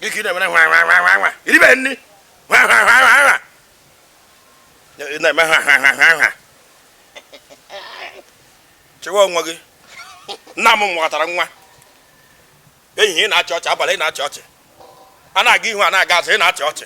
gị ka ị na-emere ha ha ha ha ha i ribe nri ha ha ha ha ha ị na-eme ha ha ha ha ha chịwa onwe gị nna m nwatara nwa ehihie ị na-achị ọchị abalị ị na-achị ọchị a na-aga ihu a na-aga azụ ị na-achị ọchị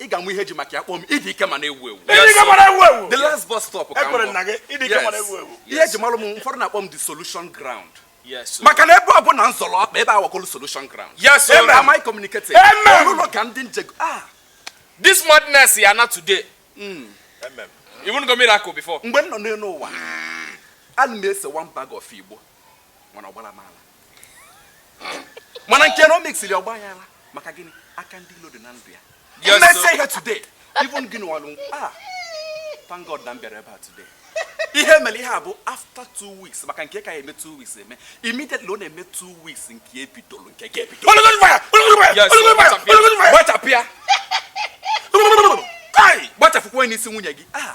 ị ga-ama ihe e ji maka ya akpọ m ịdị ike ma na-ewu ewu the last bus stop ka m ihe ji malụ m ụfọdụ na-akpọ m the solution ground maka na ebe ọ bụla m zọrọ ọkpa ebe ahụ aghọlụ solution ground ebe am I communicating ọlụlọ ka ndị nje ah this madness ya-ana today hmm. even go miracle before mgbe m nọ n'elu ụwa ana m ese one bag of igbo mana ọ gbarọ m ala mana nke na o mesiri ọ gbaa ya ala maka gịnị aka ndị ilo dị na ndụ ya Yes, mmesi sir. ihe today even gịnị walụ ah thank god na m bịara ebe a today ihe mere ihe a bụ after two weeks maka nke a ya-eme two weeks eme immediately ọ na-eme two weeks nke ebidolu nke a ebido Yes, sir. Gbachapịa. gbachapịa Ai, gbachapụkwa onye n'isi nwunye gị ah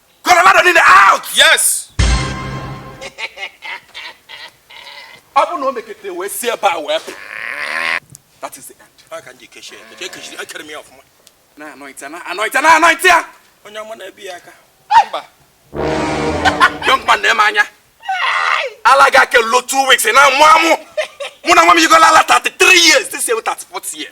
Colorado niile out. Yes. Ọ bụ na o mekete wee si ebe a wee pụ. That is the end. Ọ ka ndị kechie ya. Kechie kechie ekere m ya ọfụma. Na-anoint ya na-anoint ya na-anoint ya. Onye ọma na-ebi ya aka. Mba. Young man na-eme anya. Ala ga-ake lo two weeks na-amụ amụ. Mụnwa m yigola ala 33 years. This year 34 year.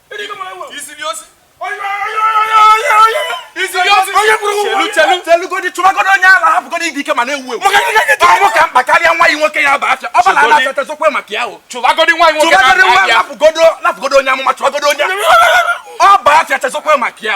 chelugodi chụbagodo onye ala hapụgodo ịdị ike ma na-ewu ewu ọ mụ ka mkpa karịa nwa nwoke ya bụ afịa ọ bụla na-achọtazokwe maka ya chụbagodo nwa nwoke hapụgodo onye amụma chụbagodo onye ọ bụ afịa chezọkwa maka ya